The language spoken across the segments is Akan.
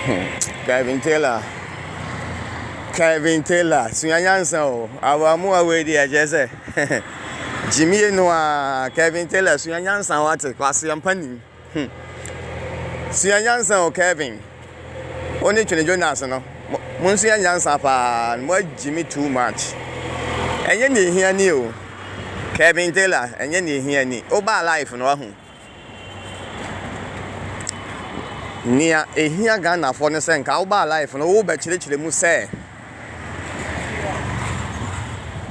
Hmm, Kevin Taylor. Kevin Taylor, sua nyansa o. Awamuwa wei di ɛkyɛ sɛ. Jimmy no a, Kevin Taylor, sua nyansa wate, kwase ampa nim. Hmm. Sua nyansa o Kevin. Wo ne Twene Jonas no, mo nsua nyansa paa, mo Jimmy too much. Ɛnyɛ ne ehia ni o. Kevin Taylor, ɛnyɛ ne ehia ni. Wo ba life no ahu. Nea ɛhia Ghanafoɔ ne sɛ nka woba life no wobɛkyerɛkyerɛ mu sɛ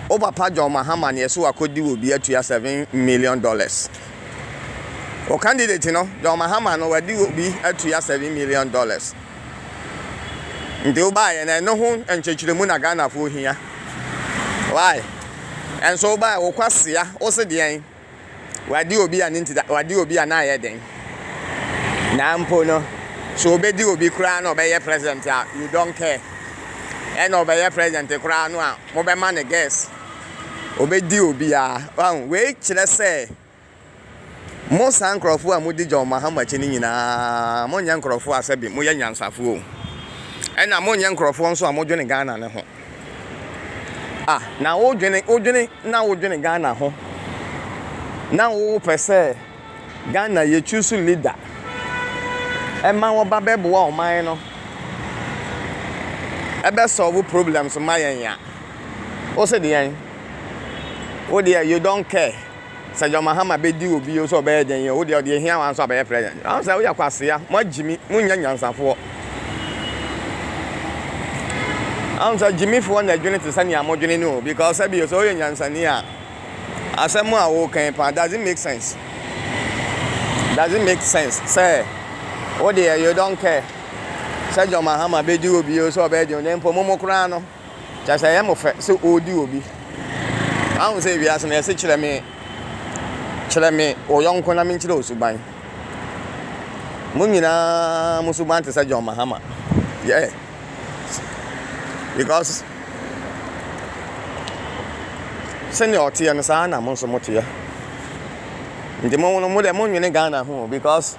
wo papa John Mahama na ɛso wakɔdi wɔ bi atua seven million dollars. Wo candidate no John Mahama no wadi wɔ bi atua seven million dollars. Nti wobaeɛ no ɛno ho nkyerɛkyerɛmu na Ghanafoɔ hia. Why? Ɛnso wobaeɛ wo kwasea wo se deɛn? Wadi obi a ne nti da, wadi obi a na ayɛ den. Na mpo no, so obedi obi koraa na ɔbɛyɛ president a, you don't care. Ɛna ɔbɛyɛ president koraa no a, mobɛma no guess. Obedi obiara. Wahu, wei kyerɛ sɛ mo saa nkurɔfo a modi John Mahama akyi no nyinaa, monyɛ nkurɔfo a sɛbi moyɛ nyansafo o. Ɛna monyɛ nkurɔfo nso a modwene Ghana no ho. Ah na wo dwene wo dwene na wo dwene Ghana ho na wo pɛ sɛ Ghana yɛ choose leader ɛma wɔba bɛboa ɔman no ɛbɛ solve problems ma yɛn a wo se deɛn wo deɛ you don't care. Sɛ John Mahama bɛdi wo bio sɛ ɔbɛyɛ dɛn o, wo deɛ ɔdeɛ hia wo ara nso abɛyɛ president. Wahu sɛ woyɛ kwasea, moa Gyimi, monnyɛ nyansafoɔ. Wahu sɛ Gyimifoɔ na adwene te sɛ nea modwene no o, because sɛ bio sɛ woyɛ nyansani a, asɛm a woka yi paa, does it make sense? Does it make sense sɛ wo deɛ you don't care sɛ John Mahama bɛdi wo bio sɛ ɔbɛyɛ dɛn o, na mpo mo mo koraa no, Kyerɛ sɛ ɛyɛ mo fɛ sɛ ɔredi obi. Woahu sɛ wiase no yɛse kyerɛ me kyerɛ me wo yɔnko na menkyerɛ wo suban. Mo nyinaa mo suban te sɛ John Mahama. Yeah. Because sɛnea ɔteɛ no saa na mo nso moteɛ. Nti mo no mo deɛ monwene Ghana ho because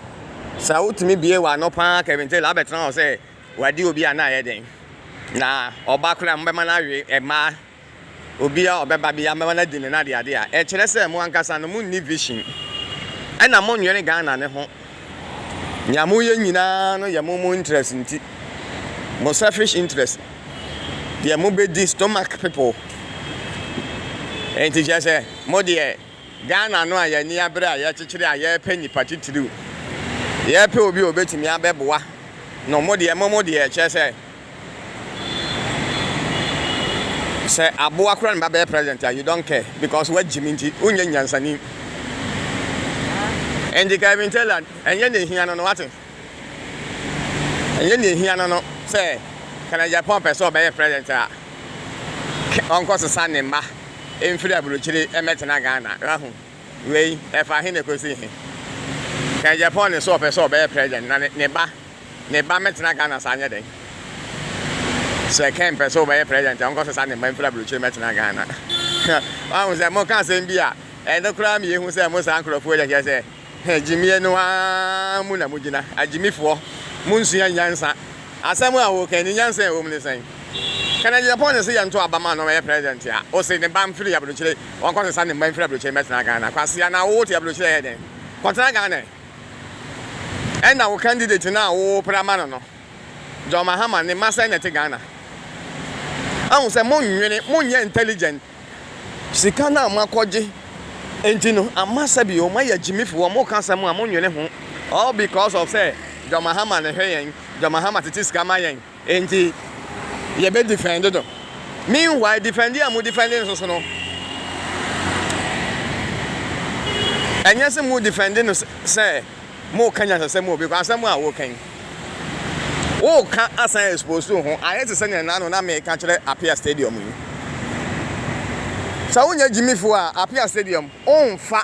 sɛ wotumi bie w'ano paa Kevin Taylor abɛtena hɔ sɛ Wadi obi a na ayɛ dɛn? Na ɔba koraa a mobɛma no awe mmaa? Obi a ɔbɛba biara mobɛma no adi ne n'adeade a? Ɛkyerɛ sɛ mo ankasa no monni vision ɛna monnwene Ghana no ho. Nea moyɛ nyinaa no yɛ mo mo interest nti, mo selfish interest, deɛ mobɛdi, stomach people. Ɛnti kyerɛ sɛ mo deɛ Ghana no a yɛn ani abere a yɛrekyekyere a yɛrepɛ nnipa titiriw. Yɛrepɛ obi a obetumi abɛboa no. Mo deɛ, mo mo deɛ, kyerɛ sɛ, sɛ aboa koraa na ɛba bɛyɛ president a, you don't care because woagyim nti, wonyɛ nyansani. Ɛnti Kevin Taylor, ɛnyɛ nea ehia no no, woate? Ɛnyɛ nea ehia no no sɛ kanagyaapɔn pɛ sɛ ɔbɛyɛ president a ɔnkɔsesa ne mma mfiri aburokyire mmɛtena Ghana. Wahu? Wei, ɛfa he na ɛkɔsi he? Kanagyaapɔn ne so ɔpɛ sɛ ɔbɛyɛ president na ne ba ne ba mmɛtena Ghana saa nyɛ dɛn? Sɛ Ken pɛ sɛ ɔbɛyɛ president a ɔnkɔsesa ne mma mfiri aburokyire mmɛtena Ghana. Wahu sɛ moka asɛm bi a ɛno koraa ma yɛhu sɛ mo saa nkurɔfoɔ yi kyerɛ sɛ Hɛ, gyimie no ara mu na mogyina, agyimifoɔ, monsua nyansa. Asɛm a woka yi, ne nyansa a ɛwɔ mu ne sɛn? Kennedy Agyapong na ɛsɛ yɛnto aba ma no ɔyɛ president a, ose ne ba mfiri abrokyire, ɔnkɔsesa ne mma mfiri abrokyire mmɛtena Ghana. Kwasea, na wote abrokyire a ɛyɛ dɛn? Kɔtena Ghana ɛ! Ɛna wo candidate no a wopere ama no no, John Mahama, ne mma sɛn na ɛte Ghana? Ahu sɛ monnwene, monyɛ intelligent. Sika no a moakɔgye nti no ama sɛbi o moayɛ gyimifo, wɔka asɛm a monnwene ho all because of sɛ John Mahama na ɛhwɛ yɛn, John Mahama tete sika ma yɛn nti yɛbɛ defend no. Meanwhile defending a mo defend no so no ɛnyɛ sɛ mo defend no sɛ Moreka nyansasɛm o, because asɛm a woreka yi, woreka asan expose ho. Ayɛ te sɛ nea ɛna ano na mereka kyerɛ Apia Stadium yi. Sɛ wonyɛ gyimifo a, Apia Stadium, womfa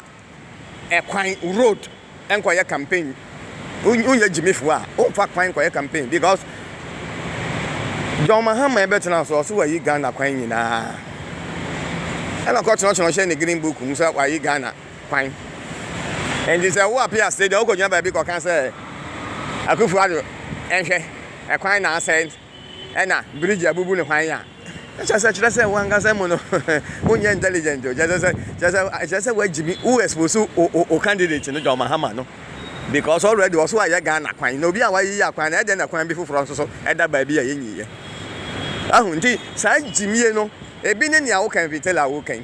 ɛkwan, road, nkɔyɛ campaign. Wonyɛ gyimifo a, womfa kwan nkɔyɛ campaign because John Mahama ɛbɛtena so, ɔse wayi Ghana kwan nyinaa. Ɛna ɔkɔtwerɛtwerɛ hyɛ ne green book mu sɛ wayi Ghana. kwan. Enti sɛ wo apia sei deɛ wokɔgyina baabi kɔka sɛ Akufo Addo nhwɛ ɛkwan na asɛe ɛna bridge abubu ne hwan a, na kyerɛ sɛ kyerɛ sɛ wo ankasa mu no wonyɛ intelligent o. Kyerɛ sɛ kyerɛ sɛ kyerɛ sɛ woagyimi wo expose o o o candidate no John Mahama no because already ɔso ayɛ Ghana kwan na obi a wayiyi akwan no ɛdɛn na kwan bi foforɔ nso so ɛda baabi a yɛnyiiɛ. Wahu nti saa gyimie no ebi ne nea woka mfitela wokan.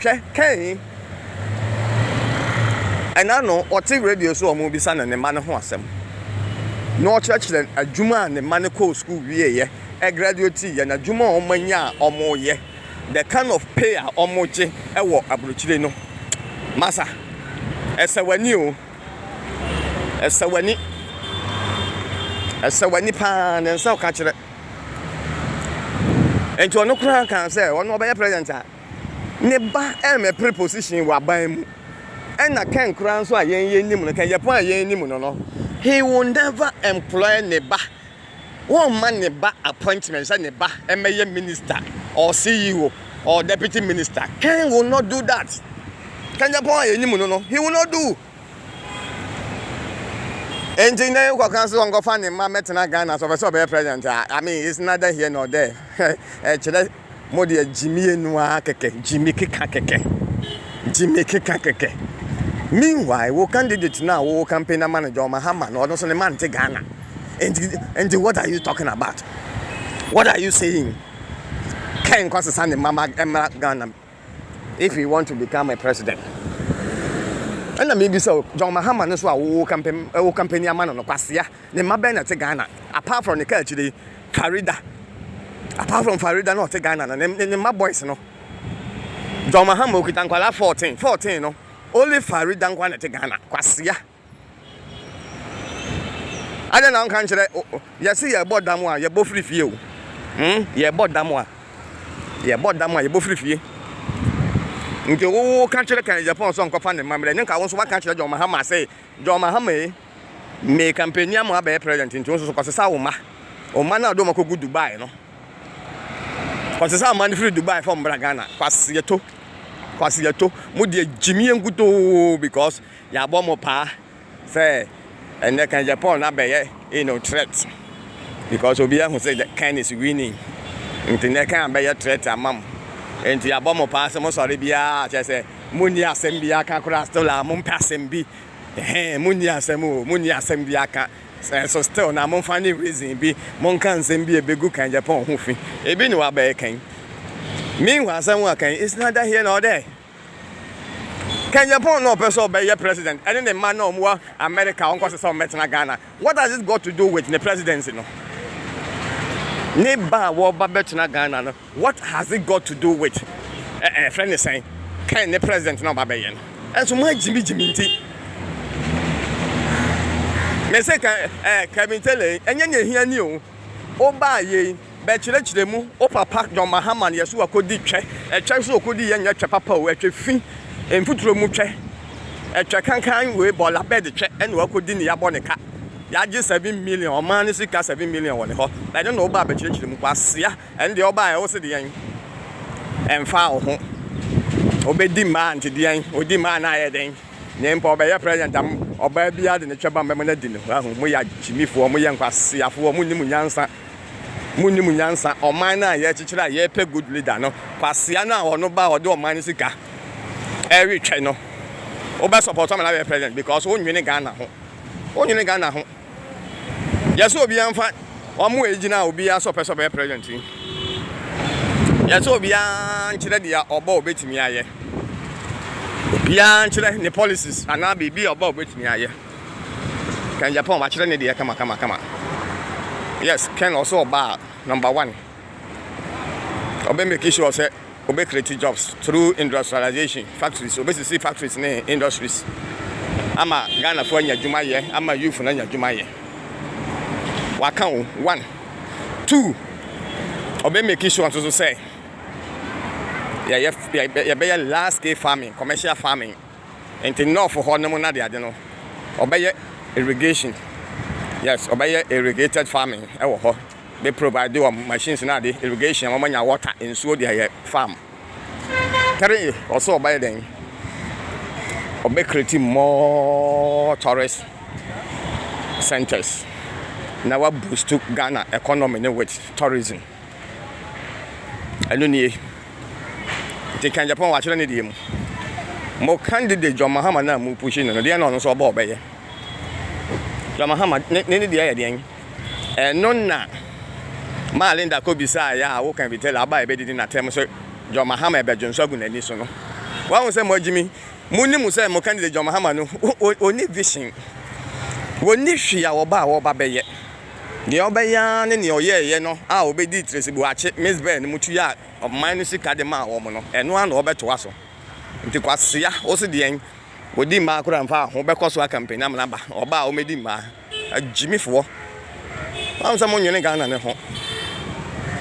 Hwɛ Kain, ɛna no ɔte radio so a wɔrebisa no ne mma no ho asɛm, na ɔkyerɛkyerɛ adwuma a ne mma no kɔɔ sukuu wieeɛ, ɛgraduatiiɛ, n'adwuma a wɔanya a wɔreyɛ, the kind of pay a wɔgye wɔ aburokyire no. Masa, ɛsɛ w'ani o, ɛsɛ w'ani, ɛsɛ w'ani pa ara, ne nsa ɔka kyerɛ. Enti ɔno koraa kaa sɛ ɔno ɔbɛyɛ president a, ne ba ɛremmɛpere position wɔ aban mu ɛna kɛn koraa nso a yɛn yɛn nim no kɛn yɛpɔn a yɛn nim no no he will never employ ne ba wɔmma ne ba appointment sɛ ne ba ɛmɛyɛ minister or CEO or deputy minister kɛn will not do that kɛn yɛpɔn a yɛn nim no no he will not do nti na yɛn kɔkan so wɔnkɔfa ne mma mɛtena Ghana so ɔpɛ sɛ ɔbɛyɛ president a I mean it's neither here nor there ɛkyerɛ Mo deɛ gyimie no ara kɛkɛ, gyimi keka kɛkɛ, gyimi keka kɛkɛ. Meanwhile, wo candidate no a wo campaign ama no John Mahama no, ɔno nso ne mma nte Ghana. Nti, nti what are you talking about? What are you saying? Kɛn kɔ sesa ne mma ma ɛmmra Ghana. if he want to become a president ɛna mebisa o John Mahama no so a wo campaign wo campaign ama no no kwasea ne mma bɛn na te Ghana apart from ne kaa akyire Farida apart from Farida no ɔte Ghana no ne ne mma boys no John Mahama okita nkwalaa 14 14 no only Farida nkwa na te Ghana kwasea Adɛn na wonka nkyerɛ wo Yɛse yɛbɔ dam a yɛbɔ firi fie o hmm yɛbɔ dam a yɛbɔ dam a yɛbɔ firi fie Nti wo wo ka kyerɛ kan Japan sɛ ɔnkɔfa ne mmamerɛ ne nka wo nso waka kyerɛ John Mahama sɛ John Mahama e me kampani ama abɛyɛ president nti wo nso so kɔsesa wo mma wo mma no a wode wɔn akɔgu Dubai no kɔsesa mma no firi Dubai fam bra Ghana kwaseɛto kwaseɛto mo deɛ gyimie nkutoo because Yɛabɔ mo paa sɛ ɛnnɛ Kanje Paul no abɛyɛ you know threat because obiara hu sɛ Ken is winning nti nnɛ Ken abɛyɛ threat ama mo nti yɛabɔ mo paa sɛ mosɔre biara a kyerɛ sɛ monni asɛm biara ka koraa still a mompɛ asɛm bi hɛn monni asɛm o monni asɛm bi aka so still na momfa ne reason bi monka nsɛm bi a ebegu Kanje Paul ho fi ebi ne wabɛyɛ Ken meanwhile asɛm a Ken is neither here nor there Ken Yɛpɔn na ɔpɛ sɛ ɔbɛyɛ president ɛne ne mma na ɔmo wɔ America ɔnkɔ sɛ sɛ ɔmo bɛtena Ghana what has it got to do with ne presidency no ne ba a wɔba bɛtena Ghana no what has it got to do with ɛɛ eh, ɛfrɛ ne sɛn Ken ne president na ɔba bɛyɛ no ɛnso mo agyimigyimi nti mese Kevin Taylor ɛnyɛ ne ehia ni o ɔbaa yei Bɛkyerɛkyerɛ mu, O papa John Mahama yɛ so akɔdi twɛ, ɛtwɛ nso ɔkɔdi yɛ nyɛ twɛ papa o, ɛtwɛ fi, mfuturo mu twɛ, ɛtwɛ kankan wei bɔla bɛd twɛ ɛna wakɔdi ne yabɔ ne ka, yagye seven million ɔman no sika seven million wɔ ne hɔ, ɛno na wobaa bɛkyerɛkyerɛ mu, kwasea, ɛno deɛ wobaa ɛ wose deɛn, ɛmfaa wo ho, wobɛdi mmaa nti deɛn, ɔdi mmaa na ayɛ dɛn, ne mpa ɔbɛyɛ president a ɔbaa biara de ne twɛ ba mbɛma no adi no, wahu, moyɛ agyimifoɔ, moyɛ nkwaseafoɔ, monnim nyansa. Munnim nyansa ɔman no a yɛrekyekyere a yɛrepɛ good leader no, kwasea no a ɔno ba a ɔde ɔman no sika retwɛn no, wobɛ support ama no abɛyɛ president because wonwene Ghana ho. Wonwene Ghana ho. Yɛsɛ obiara mfa wɔn a egyina a obiara sɛ ɔpɛ sɛ ɔbɛyɛ president yi. Yɛsɛ obiara nkyerɛ deɛ ɔba a obetumi ayɛ. Obiara nkyerɛ ne policies anaa biribi a ɔba a obetumi ayɛ. Ken Japan wakyerɛ ne deɛ kama kama kama. Yes, Ken ɔsɛ ɔbaa number one. Ɔbɛ make sure sɛ ɔbɛ create jobs through industrialization factories. Ɔbɛ sisi factories ne industries ama Ghana fo anya adwuma yɛ ama youth no anya adwuma yɛ. Waka o one two ɔbɛ make sure nso so sɛ yɛyɛ yɛbɛyɛ large scale farming commercial farming. Nti nɔɔfo hɔ nom nadeade no ɔbɛyɛ irrigation yes ɔbɛyɛ irrigated farming ɛwɔ hɔ bɛ provide wɔn machines na ade irrigation wɔn anya water nsuo de ayɛ farm three ɔsɛ ɔbɛyɛ dɛn ɔbɛ create more tourist centers na wa boost Ghana economy ne with tourism. Ɛno nie. Nti kan Japan wakyerɛ ne deɛ mu. Mo candidate John Mahama no a mo pushi no no deɛ na ɔno nso ɔbɔ ɔbɛyɛ. John Mahama ne ne deɛ yɛ deɛn? Ɛno na maa Linda kɔ bisaa yɛ a woka bi tela aba a ɛbɛdidi n'atɛm so John Mahama ɛbɛdwo nso agu n'ani so no. Wahu sɛ mo agyimi mo nim sɛ mo candidate John Mahama no ɔni vision. Wɔni hwee a ɔba a ɔba bɛyɛ. Deɛ ɔbɛyɛ ara ne deɛ ɔyɛeɛ no a ɔbɛdii Tereseboakye Mizber no mu tuaa ɔman no sika de maa wɔn no, ɛno ara na ɔbɛtoa so. Nti kwasea, wo se deɛn? Wɔdi mmaa koraa mfaa ho, wobɛkɔ so aka mpɛn amena ba, ɔbaa a wɔmmɛdi mmaa. Agyimifoɔ. Woahu sɛ monnwene Ghana no ho.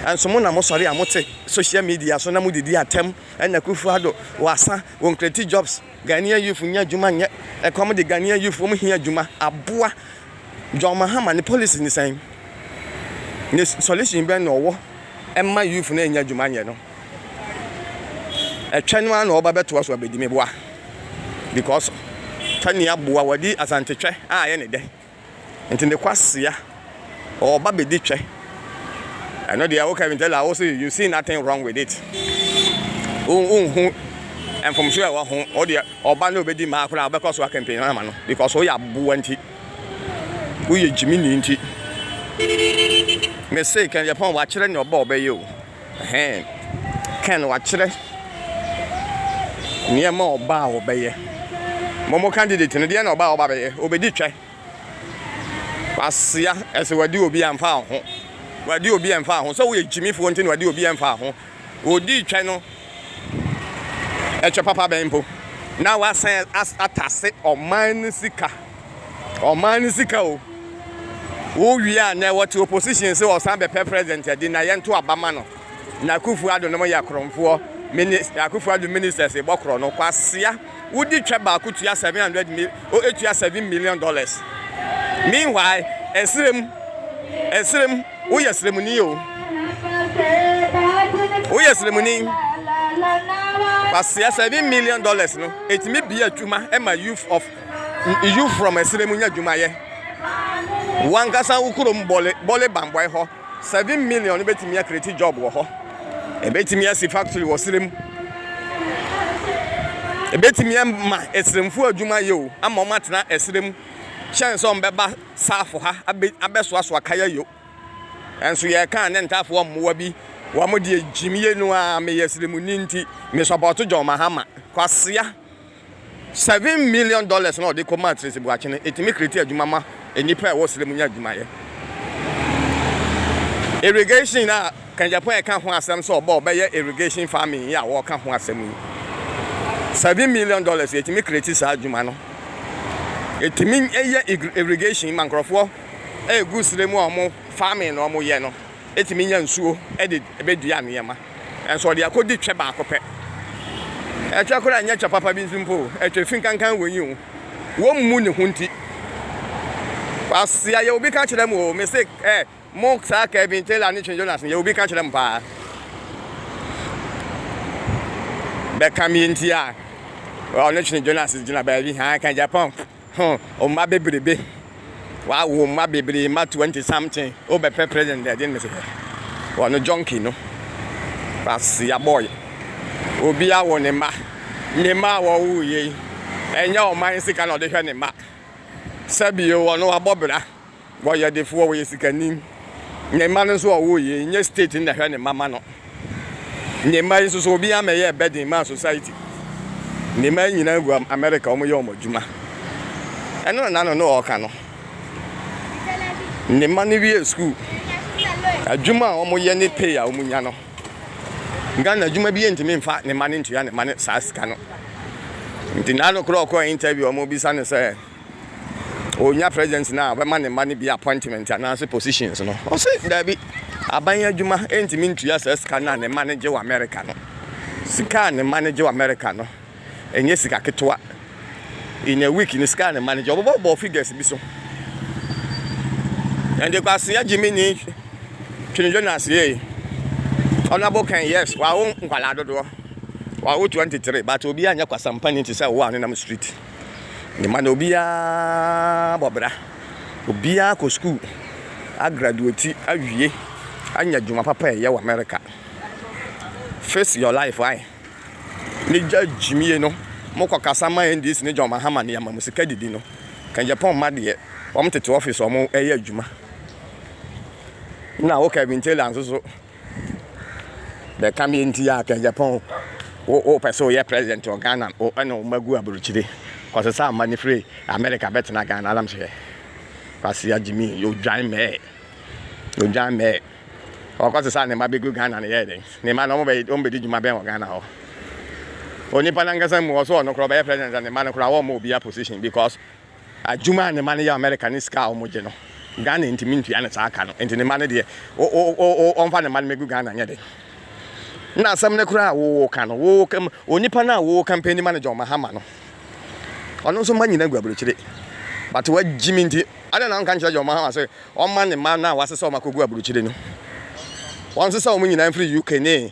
Ɛnso mo na mosɔre a mote social media so na modidi atɛm, ɛna Kufu Ado, wasa, wɔn create jobs, Ghanaian youth nyɛ adwuma nyɛ, ɛkɔm de Ghanaian youth wɔn hia adwuma, aboa, John Mahama ne policy ne sɛn? Ne solution bɛn na ɔwɔ ɛma youth no ɛnya adwuma nyɛ no? Ɛtwɛ no ara na ɔba bɛtoa so abɛdi me boa because twɛ ne aboa wɔde asante twɛ a ɛyɛ ne dɛ nti ne kwasea ɔba bɛdi twɛ. ɛno deɛ wo Kevin Taylor wo se you see nothing wrong with it wonhu mfomso ɛwɔ ho wo deɛ ɔba ne obɛdi maa koraa wobɛkɔ so akɛmpɛn ama no because woyɛ aboa nti woyɛ gyimini nti me se kɛn yɛpɔn wakyerɛ ne ɔbɔ ɔbɛyɛ o hɛn kɛn wakyerɛ nneɛma ɔba a ɔbɛyɛ mɔmɔ candidate no deɛ na ɔba a ɔba bɛyɛ obɛdi twɛ Kwasea, ɛsɛ wɔde obi ɛmfa ho. Wɔde obi ɛmfa ho. Sɛ woyɛ gyimifoɔ nti na wɔde obi ɛmfa ho. Wɔdi twɛ no, ɛtwɛ papa bɛn mpo. Na wasan atase ɔman no sika. Ɔman no sika o. Wowie a nɛ wɔte opposition sɛ ɔsan bɛpɛ president adi na yɛnto aba ma no. Na Akufo-Addo nom yɛ korɔmfoɔ. Minis, Akufo-Addo ministers bɔ korɔ no. Kwasea. wodi twɛ baako tua seven hundred mil oh etua seven million dollars. Meanwhile, ɛserem, ɛserem, woyɛ seremuni o, woyɛ seremuni. Wasia seven million dollars no, etumi bie adwuma ɛma youth of youth from ɛserem nya adwumayɛ. Wankasa wo kurom bɔle bɔle bambɔɛ hɔ. seven million no betumi akreti job wɔ hɔ, ebetumi asi factory wɔ serɛ mu, ebetumi ama ɛserɛmfo adwuma yɛ o, ama wɔn atena ɛserɛ mu kyɛn sɛ wɔn bɛba saafo ha abɛ abɛsoasoa kaya yo. Ɛnso yɛka a ne ntaafoɔ mmoa bi wɔn deɛ gyimie no ara meyɛ serɛmuni nti me sɔpɔto John Mahama. Kwasea. Seven million dollars no a ɔde kɔ maa Tracy Boakye no, etumi create adwuma ma nnipa a ɛwɔ srɛ mu nya adwumayɛ. Irrigation a Ken Gyapong ɛka ho asɛm sɛ ɔbɔ ɔbɛyɛ irrigation farming yi a wɔka ho asɛm yi, seven million dollars yɛtumi create saa adwuma no. Etumi yɛ irrigation ma nkurɔfoɔ a ɛgu srɛ mu a wɔn farming na wɔyɛ no. tumi nya nsuo de bɛdua nneɛma, nanso ɔde akɔdi twɛ baako pɛ. Ɛtwɛ koraa nyɛ twɛ papa bi nso mpo o, ɛtwɛ fi nkankan wɔ yi o, wɔmmu ne ho nti. Kwasia, yɛ obi ka kyerɛ mo o, me se ɛ, mo saa Kevin Taylor ne Twin Jonas no, yɛ obi ka kyerɛ mo paa. Bɛka me nti a, ɔne Twin Jonas gyina baabi, haa ka Japan. Ho mma bebrebe wawo mma bebree mma twenty something wo bɛ pɛ president dɛ ɛde ne se hɛ wɔ no junkie no kwasia boy obi awo ne mma ne mma a wɔwo yei ɛnyɛ ɔman sika na ɔde hwɛ ne mma sɛbi o wɔ no wabɔ bra Wɔyɛ defoɔ, wɔyɛ sikani. Ne mma no nso a ɔwɔ yi, ɛnyɛ state no na ɛhwɛ ne mma ma no. Ne mma yi nso so, obi ama ɛyɛɛ burden maa society. Ne mma yi nyinaa gu America, wɔyɛ wɔn adwuma. Ɛno na n'ano no ɔreka no. Ne mma no wiee school. Adwuma a wɔyɛ ne pay a wɔnya no, Ghana adwuma bi ntumi mfa ne mma no ntua ne mma no saa sika no. Nti n'ano korɔ ɔkɔɔ interview a wɔbisa no sɛ, Onya president no a ɔbɛma ne mma no bi appointment anaase positions no? Ɔse daabi, aban adwuma ntumi ntua saa sika no a ne mma no gye wɔ America no. Sika a ne mma no gye wɔ America no, ɛnyɛ sika ketewa. In a week no sika a ne mma no gye, ɔbobɔbobɔ figures bi so. Ɛnde kwasea gyimi ni twene Jonas yie. Honorable Ken, yes, wawo nkwadaa dodoɔ. Wawo 23, but obiara nyɛ kwasampani te sɛ wo a ɔnenam street. Ne mma no, obiara bɔ bra. Obiara kɔ sukuu, agraduati, awie, anya adwuma papa reyɛ wɔ Amerika. Face your life ae. Ne gya gyimie no, mokɔkasa ma NDC ne John Mahama ne ama mo sika didi no. Kɛngyɛpɔn mma deɛ, wɔtete office wɔn reyɛ adwuma. Na wo Kevin Taylor nso so, Bɛka me nti a Kɛngyapɔn wo wo pɛ sɛ woyɛ president wɔ Ghana wo ɛna wo mma gu aburokyire kɔsesa mma no firi America bɛtena Ghana anam hwɛ Kwasea Gyimi odwan mɛɛ odwan mɛɛ ɔkɔsesa ne mma bɛgu Ghana no yɛɛ dɛn ne mma no wɔn bɛ wɔn bɛdi dwuma bɛn wɔ Ghana hɔ onipa nankasa mu ɔso ɔno koraa ɔbɛyɛ president ne mma no koraa wɔn ma obiara position because Adwuma a ne mma no yɛ wɔ Amerika ne sika a wɔgye no, Ghana ntumi ntua no saa ka no. Enti ne mma no deɛ, wɔmfa ne mma no mmɛgu Ghana nyɛ den. Na asɛm no koraa a woreka no, onipa no a worekanpɛni ma no, John Mahama no, ɔno nso mma nyinaa gu aburokyire. But wagyimi nti, adɛn na wonka nkyerɛ John Mahama sɛ ɔmma ne mma no a wɔasesa wɔn akɔgu aburokyire no, wɔnsesa wɔn nyinaa mfiri UK ne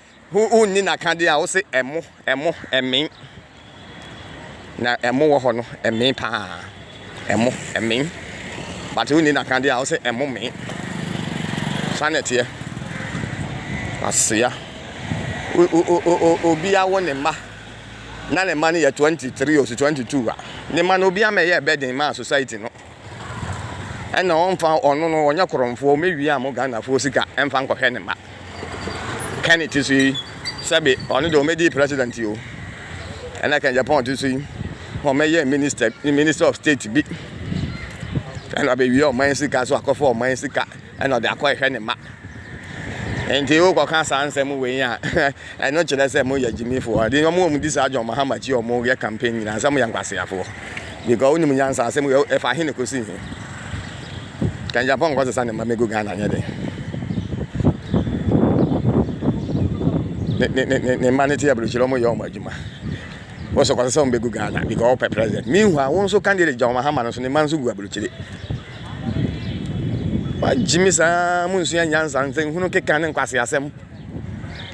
Ho wonni n'akadeɛ a wose ɛmo ɛmo ɛmen na ɛmo wɔ hɔ no ɛmen paa ɛmo ɛmen but wonni n'akadeɛ a wose ɛmo men saa na ɛteɛ aseya obi awo ne mma na ne mma no yɛ 23 osi 22 a ne mma no obi ama ɛyɛ ɛbɛ den maa society no ɛna ɔmfa ɔno no ɔnyɛ korɔmfoɔ ɔmɛwia mo Ghanafoɔ sika ɛmfa nkɔhwɛ ne mma Kenny ti so yi sɛbe ɔno deɛ ɔmɛdi president yi o ɛna Ken Japan ti so yi ɔmɛyɛ minister minister of state bi ɛna ɔbɛwia ɔman sika so akɔfa ɔman sika Ɛnna ɔde akɔhwehwɛ ne mma. Enti wokɔka saa nsɛm wei a, ɛno kyerɛ sɛ moyɛ gyimifoɔ. Ɛde wɔn a wɔdi saa John Mahama akyi a wɔyɛ campaign nyinaa sɛ moyɛ nkwaseafoɔ. Because wonim nyansa asɛm wei ɛfa he na ɛkɔsi he? Kangyapɔn nkɔsesa ne mma mmɛgu Ghana nyɛ dɛn? Ne, ne, ne, ne mma no te aburukyire wɔyɛ wɔn adwuma. Wo so kɔsesa wɔn bɛgu Ghana because wopɛ president. Meanwhile, wo nso candidate John Mahama no nso ne mma nso gu aburukyire. Wagyimi saa monsua nyansa nsɛnhunu keka ne nkwaseasɛm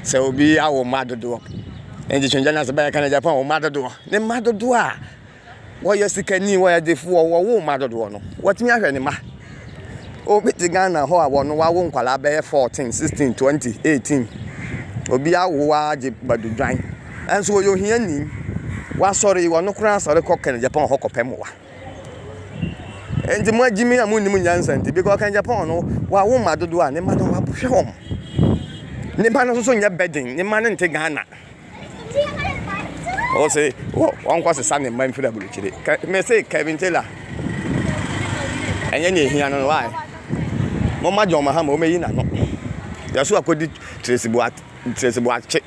sɛ obi awo mma dodoɔ nti twɛngya no ase bɛyɛ ka no japan wo mma dodoɔ ne mma dodoɔ a wɔyɛ sikani wɔyɛ defoɔ wɔwo mma dodoɔ no watumi ahwɛ ne mma obi te ghana hɔ a wɔno wawo nkwadaa bɛyɛ 14 16 20 18 obi awo agye badudwan ɛnso wɔyɛ ohiani wasɔre wɔno koraa asɔre kɔ kɛnɛ japan hɔ kɔpɛ mmoa Enti mo agyimi a munnim nyansa nti, because ɔka Japan no wawo mma dodoɔ a ne mma no wahwɛ wɔn. Ne mma no nso nyɛ burden, ne mma no nte Ghana. Ɔse ɔnkɔ sesa ne mma mfiri aburokyire. Me se Kevin Taylor ɛnyɛ nea ehia no no why? Momma John Mahama ɔmɛyi n'ano. Yɛso akɔdi Tracy Boakye.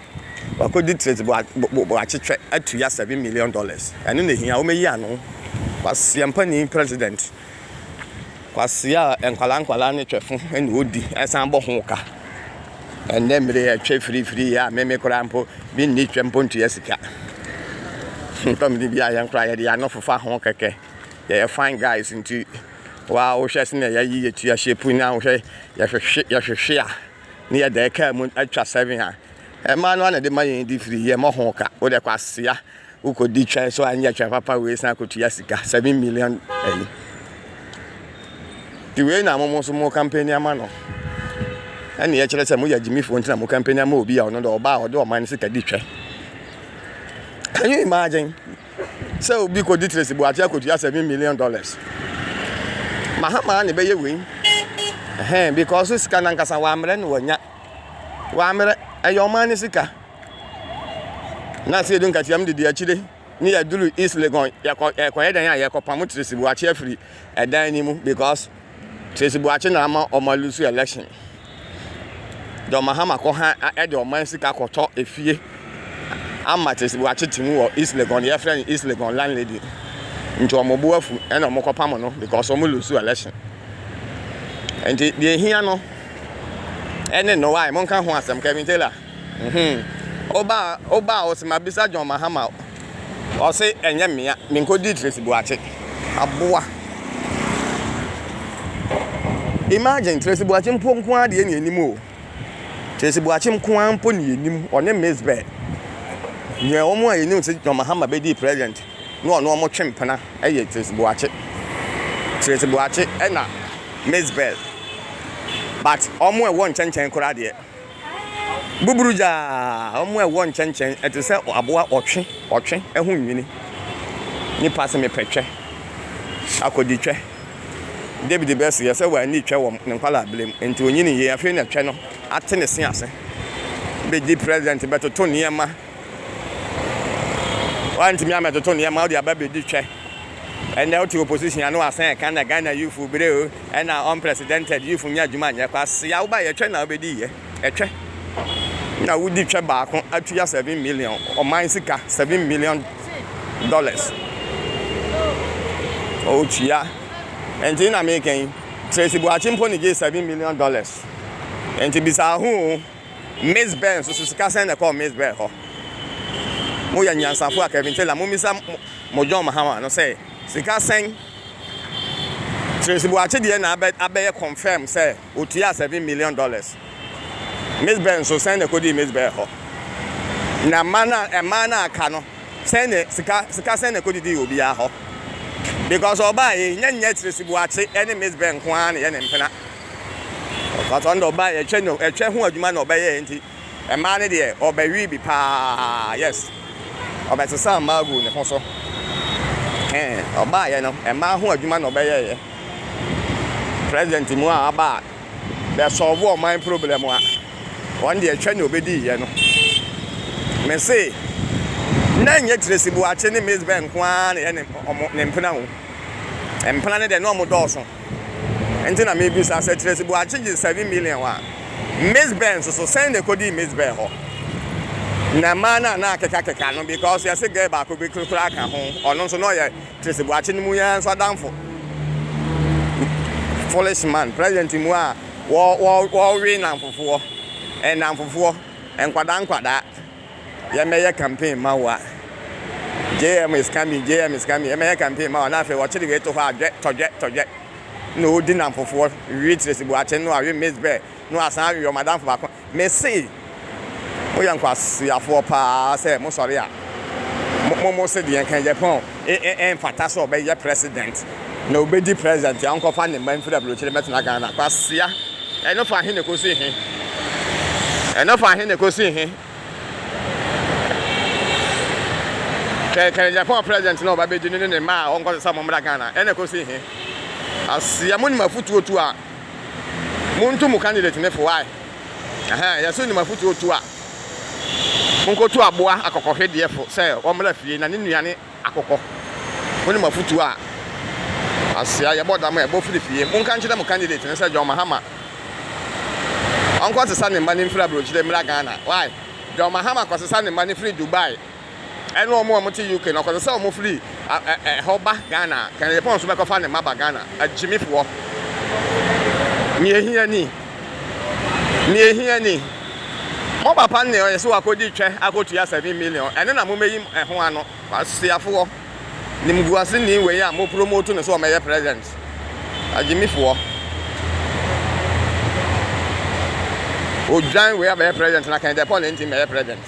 Wakodi trade de boakyekyɛ atua seven million dollars ɛno na ehia wɔayi ano kwasia mpanin president kwasia a nkwadaa nkwadaa ne twɛfo ɛna odi ɛsan bɔ ho ka ɛnɛ mmiri ɛtwɛ firifiri yɛ a meme koraa mpo bi nni twɛ mpo ntua sika ntɔm de bi a yɛn koraa yɛde ano fofa ho kɛkɛ yɛyɛ fine guys nti wa wohwɛ sɛ na yɛyi yɛtua hyɛ pu na wohwɛ yɛhwehwe yɛhwehwe a Ne yɛ dɛ kaa mu atwa seven a ɛmaa no ana de ma yɛn di firi yɛ mɔ ho ka wo dɛ kwasea wo kɔ di twɛ so anyɛ twɛ papa wei san kɔtua sika seven million ɛyi ti wei na mo so mo kampani ama no ɛne yɛ kyerɛ sɛ mo yɛ agyimifoɔ ntina mo kampani ama obi a ɔno dɛ ɔbaa ɔde ɔman sika di twɛ can you imagine sɛ obi kɔdi Tracy Boakye akɔtua seven million dollars. Mahama na ɛbɛyɛ wei. Ɛhɛn because sika no ankasa wɔammrɛ no wɔanya. Wɔammrɛ ɛyɛ ɔman no sika. Na sɛ yɛdu nkatiam de di akyire ne yɛduru East Legon yɛkɔ yɛkɔyɛ dɛn a yɛkɔpam Tracy Boakye afiri ɛdan no mu because Tracy Boakye na ama wɔn a lose election. John Mahama kɔ ha ɛde ɔman sika kɔtɔ efie ama Tracy Boakye ti mu wɔ East Legon deɛ yɛfrɛ no East Legon landlady. Nti wɔn bo afu ɛna wɔn kɔ pam no because wɔn lose election. Nti deɛ ehia no ɛne no why mo nka ho asɛm Kevin Taylor. Uhmm wobaa wobaa ɔse mabisa John Mahama ɔse ɛnyɛ mea menkɔdii Tracy Boakye aboa imagine Tracy Boakye mpo nkoaa deɛ ne ɛnim oo Tracy Boakye nkoaa mpo ne ɛnim ɔne Miss Beh deɛ wɔn a yɛnim sɛ John Mahama bɛdii president na ɔno wɔn twe mpena ɛyɛ Tracy Boakye Tracy Boakye ɛna Miss Beh but wɔn a ɛwɔ nkyɛnkyɛn koraa deɛ buburugya a ɛwɔ nkyɛnkyɛn, ɛte sɛ aboa ɔtwe, ɔtwe ho nwini. Nnipa se mepɛ twɛ, akɔdi twɛ. David bɛs yɛ sɛ wanni twɛ wɔ ne nkwadaa-berɛm, enti ɔnyinii yie. Afei na twɛ no ate ne se ase, bɛdi president, bɛtoto nneɛma. Wantumi ammɛtoto nneɛma, wode aba bɛdi twɛ. Ɛnnɛ wote opposition a na wasan ɛka na Ghana youthfo bere o. Ɛna unprecedented youth nyɛ adwuma nyɛ kwasea woba yɛ twɛ na wobɛdi yɛ ɛtwɛ na wodi twɛ baako atua seven million ɔman sika seven million dollars ɔtua ɛnti na meka yi Tracy Buakye mpo ne gyee seven million dollars ɛnti bisa ho o Miss Bell nso so sika sɛn na ɛkɔɔ Miss Bell hɔ mo yɛ nyansafo a Kevin Taylor mo misa mo John Mahama no sɛ sika sɛn Tracy Boakye deɛ na abɛ abɛyɛ confirm sɛ otua seven million dollars. Miss Bell nso sɛn na ɛkɔdii Miss Bell hɔ? Na mma no a mmaa no a aka no sɛn na sika sika sɛn na ɛkɔdidii obiara hɔ? Because ɔbaa yei nyɛ nyɛ Tracy Boakye ɛne Miss Bell nko ara na ɛyɛ ne mpena. Because ɔno deɛ ɔbaa yɛ ɛtwɛ no ɛtwɛ ho adwuma na ɔbɛyɛɛ nti. Mmaa no deɛ ɔbɛ wii bi paa yes ɔbɛ sesaa mmaa guu ne ho so hee ɔbaa yɛ no mmaa ho adwuma na ɔbɛ yɛ yɛ president mu a aba a bɛ sɔɔvo ɔman problem a wɔn deɛ twɛ ne ɔbɛ dii yɛ no me se na nyɛ Tracy Boakye ne Maize Bell nko ara na yɛ ne ɔmo ne mpena o mpena no deɛ na ɔmo dɔɔso. Ɛnti na mebisa, sɛ Tracy Boakye gye seven million a, Miss Bell nso so, sɛn na ɛkɔdii Miss Bell hɔ? Na mmaa no a na akekakeka no, because yɛse girl baako bi koraa ka ho, ɔno nso na ɔyɛ Tracy Boakye no mu yi ara nso adamfo. Foolish man, president mu a wɔwe nnamfofoɔ, nnamfofoɔ, nkwadaa nkwadaa. yɛmmɛyɛ campaign mma wo a, JM is coming, JM is coming, yɛmmɛyɛ campaign mma wo a, na afei wɔkyere wei to hɔ a, dwɛ, tɔdwɛ, tɔdwɛ, na ɔredi nnamfofoɔ, we Tracy Boakye no awe Miss Bɛ, na wasan awe wɔn adamfo baako. Mese, moyɛ nkwaseafoɔ paa sɛ mosɔre a, mo, mo, mo se deɛ nka Japan. Ɛmfata sɛ ɔbɛyɛ president na ɔbɛdi president a ɔnkɔfa ne mma mfiri abrokyire mmɛtena Ghana. Kwasea, ɛno fa he na ɛkɔsi he? Ɛno fa he na ɛkɔsi he? Kɛkɛ Japan president na ɔba bɛdi no ne ne mma a ɔnkɔsɛ sɛ mommra Ghana ɛna ɛkɔsi he? Kwasea, monim afotuo tu a montu mo candidate ne fo wae? Ɛhɛn, yɛse wonim afotuo tu a. Monkotu aboa akokɔhwedeɛfo sɛ wɔmmra fie na ne nnuan ne akokɔ. Monim afotuo a Asia yɛbɔ dam a ɛbɔ firi fie. Monka nkyerɛ mo candidate no sɛ John Mahama ɔnkɔsesa ne mma no mfiri aburokyire mmra Ghana. Why? John Mahama kɔsesa ne mma no firi Dubai. ɛne wɔn a wɔte UK no, kɔsɛ sɛ wɔfiri ɛhɔ ba Ghana a, Kennedy Pong nso bɛkɔfa ne mma aba Ghana, agyimifoɔ. Nea ehia ni. Nea ehia ni. Mo papa ne ɔyɛ sɛ wakɔdi twɛ akɔtua seven million, ɛno na momɛyi ɛho ano, kwasiafoɔ, nimguaseni wei a mo promote no sɛ ɔmɛyɛ president, agyimifoɔ. Odwan wei abɛyɛ president na Kennedy Pong na ɛnti mmɛyɛ president.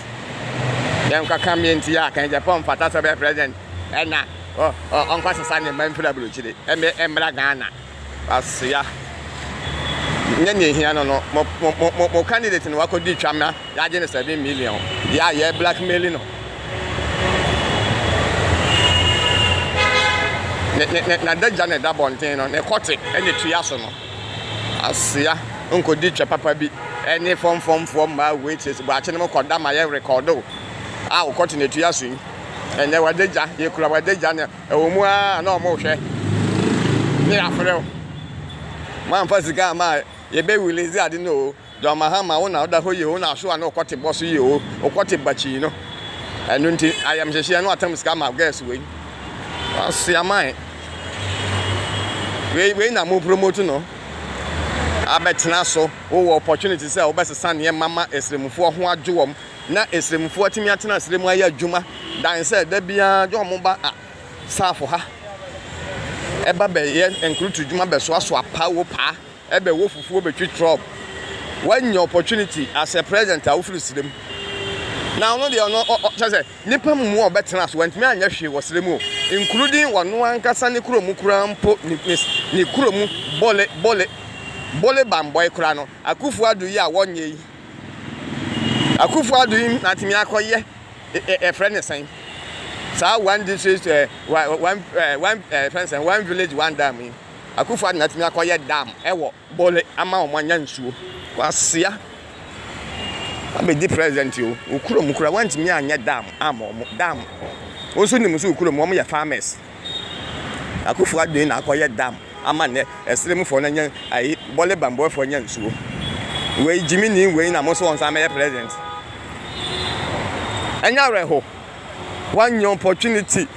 Yɛnkɔ ka meyɛ nti a kan Japan mfata sɛ ɔbɛyɛ president ɛna ɔnkɔ sesa ne mma mfiri aburokyire ɛmɛ ɛmmra Ghana asoya nyɛ nea ehia no no mo mo mo mo candidate no wakɔ di twam na yɛagye no seven million yɛ a yɛ blackmail no ne ne ne n'adagya na ɛda bɔnten no ne kɔte ɛna etua so no. Asoa nkodi kyɛ papa bi ne fɔmfɔmfoɔ mmaa waitress buakye no mu kɔda ma yɛ rekɔdo a wokɔ te n'atua so yi. Ɛnɛ wadagya, yɛkura wadagya no ɛwɔ mu ara na ɔmo hwɛ ne yɛafrɛ wo. Moamfa sika amma a yɛbɛ release ade no oo. dza ɔma hɛn ma wo na ɔda hɔ yie o na aso a na ɔkɔtse bɔ so yie o, ɔkɔtse ba kyii no. Ɛno ntsi, ayamhyehyeɛ no atam sika ama girls wei. Wɔasoa ma hɛn. Wei wei na mo promote no. Abɛtsena so, wowɔ opportunity sɛ wobɛsesa nneɛma ma esremfoɔ ho adwo wɔn na esremfoɔ atumi atena serɛ mu ayɛ adwuma dan sɛ da biara dɛ wɔn ba a saafo ha ɛba bɛyɛ nkrutudwuma bɛsoasoa paa o paa. Ɛbɛ wo fufuo bɛtwi trɔb. Wanya opportunity as a president a wofiri serɛ mu. Na ɔno deɛ ɔno ɔ ɔ kyɛ sɛ nipa mmoa a ɔbɛtena so wantumi anyɛ hwee wɔ serɛ mu o including ɔno ankasa ne kuro mu koraa mpo ne ne ne kuro mu bole bole bole bambɔe koraa no Akufo Addo yi a wɔnyɛ yi Akufo Addo yi natumi akɔyɛ ɛ ɛ ɛfrɛ ne sɛn saa one district ɛ one one ɛ one ɛ fɛn sɛn one village one dam yi. Akufo-Addo na atumi akɔyɛ dam wɔ Bole ama wɔn anya nsuo. Kwasea abɛdi president o, wo kurom koraa wantumi anyɛ dam ama wɔn. Dam, wo nso nim so wo kurom wɔn yɛ farmers. Akufo-Addo yi na akɔyɛ dam ama nnɛ Ɛserɛmufoɔ no anya, ayi, Bole banbɔfoɔ anya nsuo. Wei gyimini wei na mo nso wɔn nsa mɛyɛ president. Ɛnyɛ awerɛho. wanya opportunity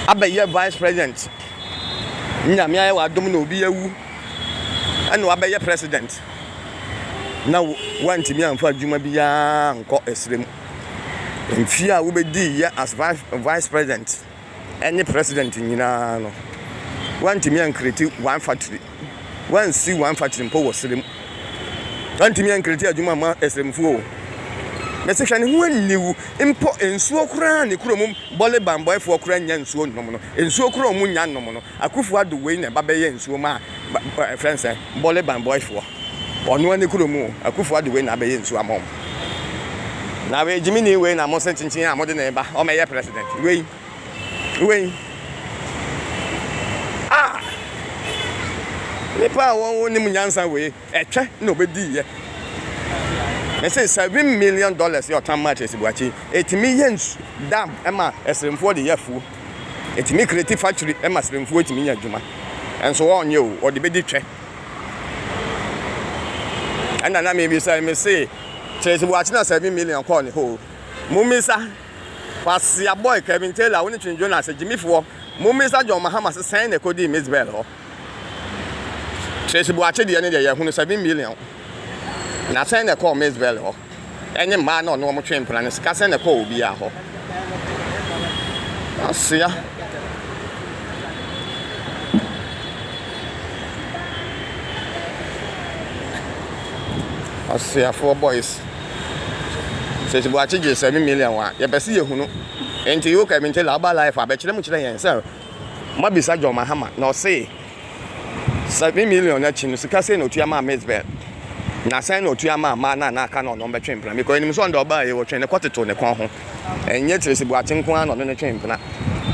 abɛyɛ vice president nyame ayɛ w'adom na obi awu ɛna wabɛyɛ president na wantumi amfa adwuma biara nkɔ ɛsrɛ mu mfie a wobɛdii yɛ as vice president ɛne president nyinaa no, wantumi ankreati one factory, wansi one factory mpo wɔ serɛ mu. Wantumi ankreati adwuma ma ɛsrɛmfo o. Mese hwɛ ne ho aniwu mpo nsuo koraa ne kuro mu bɔle bambɔɛfoɔ koraa nya nsuo nnom no. Nsuo koraa ɔmo nya nnom no. Akufo ado wei na ɛba bɛyɛ nsuo ma ɛfrɛ nsɛ bɔle bambɔɛfoɔ. Ɔnoa ne kurom o, Akufo Addo wei na abɛyɛ nsuo ama wɔn. Na wei gyimini wei na mo se kyinkyin a mode ne ba ɔmɛyɛ president wei wei ah nipa a wɔn nim nyansa wei ɛtwɛ na ɔbɛdi yɛ. Me se seven million dollars yɛ ɔtan match esibuakyi etimi yɛ nsu dam ɛma ɛsremfoɔ de yɛ afuo etimi kreti factory ɛma sremfuo etimi nya adwuma ɛnso ɔnyɛ o ɔde bɛdi twɛ. Ɛna na mebisa me se kyerɛ sɛ wɔakyena seven million kɔɔ ne hɔ o. Mommisa Kwasia Boy, Kevin Taylor, wo ne Twin Jonas, Jimmy Foɔ, mommisa John Mahama se sɛn na ɛkɔdii Miss Bell hɔ. Tracy Boakye deɛ ne deɛ yɛhunu seven million. Na sɛn na ɛkɔɔ Miss Bell hɔ. ne mmaa na ɔne wɔn twe mpena no, sikasɛm na ɛkɔɔ obiara hɔ. Asoa. Ɔsoafoɔ boys. Sisi Boakye gyee seven million a yɛpɛ sɛ yɛhu no. Nti Yoka Mintela aba life a bɛkyerɛ mu kyerɛ yɛn sɛ moabisa John Mahama na ɔse Seven million no akyi no, sika sɛn na otua maa Miss Bell? Na sɛn na otua maa mmaa no a na aka no a ɔne wɔn bɛtwe mpena? Because yenim sɛ ɔno deɛ ɔbaa yi, ɔtwee ne kɔtotoo ne kɔn ho. Ɛnyɛ Tracy Boakye nko ara na ɔne no twee mpena.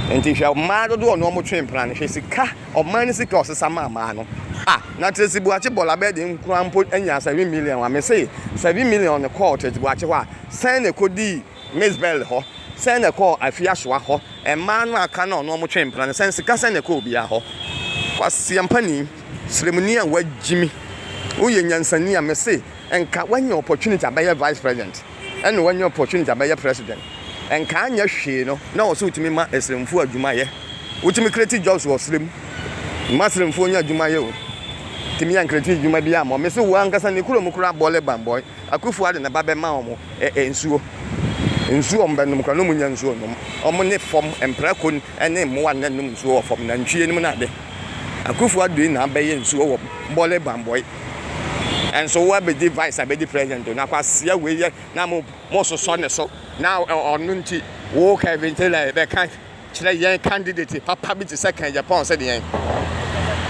Nti hwɛ mmaa dodoɔ a ɔne wɔn twee mpena no, hwɛ sika, ɔman no sika a ɔsesa maa mmaa no. Ah, na Tracy Boakye bɔɔla bɛyɛ den koraa mpo nyaa seven million a, mese seven million no kɔɔ Tracy Boakye hɔ a, sɛn na ɛkɔdii Misbel hɔ, sɛn na ɛkɔɔ Afiasoa hɔ, mmaa no a aka no a ɔno wɔtwee mpena no, sɛn sika sɛn na ɛkɔɔ obiara hɔ. Kwaseampani, sremuni a wagyimi, woyɛ nyansani a mese nka wanya opportunity abɛyɛ vice president ɛna wanya opportunity abɛyɛ president nka anyɛ hwee no na ɔwɔ sɛ wotumi ma asremfoɔ adwuma yɛ. Wotumi create jobs wɔ srem ma asremfoɔ nya adwuma yɛ o, tumi ankreti adwuma biara ma wɔn. Mese wo ankasa ne kurom koraa bɔle bambɔe. Akuffo ade ne ba bɛ ma ɔmo ɛ nsuo. Nsuo ɔmo bɛ nom kora no ɔmo nnya nsuo nnom. Ɔmo ne fɔm mprako ne mmoa nnɛ nom nsuo wɔ fɔm nantwie nom ne ade. Akuffo ado na abɛ yɛ nsuo wɔ bɔle banbɔe. Nso wo abɛ di vice abɛ di president o na kwasia wei yɛ na mo sosɔ ne so na ɔno nti wo kɛ ventela bɛ ka. Kyerɛ yɛn candidate papa bi te sɛ Ken Jepong sɛ deɛn?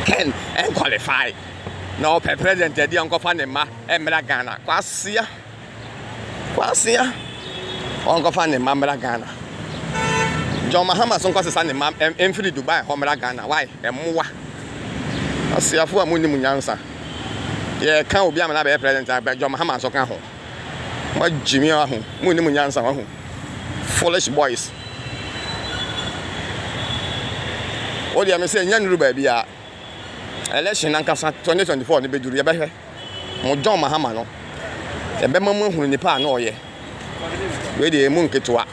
Ken ɛnqualify na ɔpɛ president adi ɔnkɔfa ne mma mmra Ghana. Kwasea. Kwasea. Ɔnkɔfa ne mma mmra Ghana. John Mahama so nkɔsesa ne mma mfiri Dubai hɔ mmra Ghana. Why? Mmoa. Kwasiafo a munnim nyansa. Yɛka obi amana bɛyɛ president a John Mahama nso ka ho. Moagyimi aho. Munnim nyansa wahu. Foolish boys. Wo deɛ me sɛ nya nuru baabi a election nankasa 2024 no bɛduru yɛbɛhwɛ mo John Mahama no yɛbɛma mu ahunu nipa a na ɔyɛ wei deɛ mu nketewa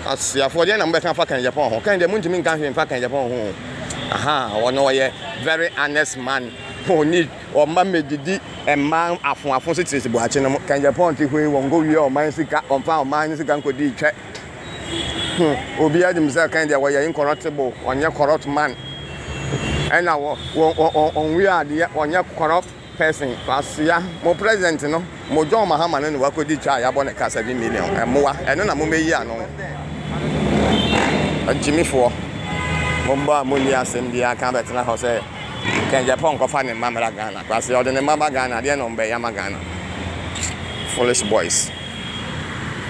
asiafoɔ deɛ na mobɛka fa kan Japan ho kan deɛ montumi nka hwee mfa kan Japan ho aha wɔn ɔyɛ very honest man who need Wɔmma medidi mma afoafo so tiri siboakye no mo. Kɛngyɛ pɔn te hoi wɔn nkɔ wia ɔman sika wɔn fa ɔman no sika nkɔ dii twɛ hmm obiaa nim sɛ kɛngyɛ wɔyɛ incorruptible ɔnyɛ corrupt man ɛna wɔn wɔn wɔn wɔn wia adeɛ ɔnyɛ corrupt person kwasea mo president no. Mo John Mahama no na wakɔdi twa a yɛabɔ no ka seven million. Mmoa. Ɛno na momɛyi ano. Agyimifoɔ. Mo mma a monni asɛm biara ka bɛtena hɔ sɛ Kɛngyɛpɔn nkɔfa ne mma mmra Ghana. Kwasea ɔde ne mma ba Ghana a, deɛn na ɔmmbɛyɛ ama Ghana. Foolish boys.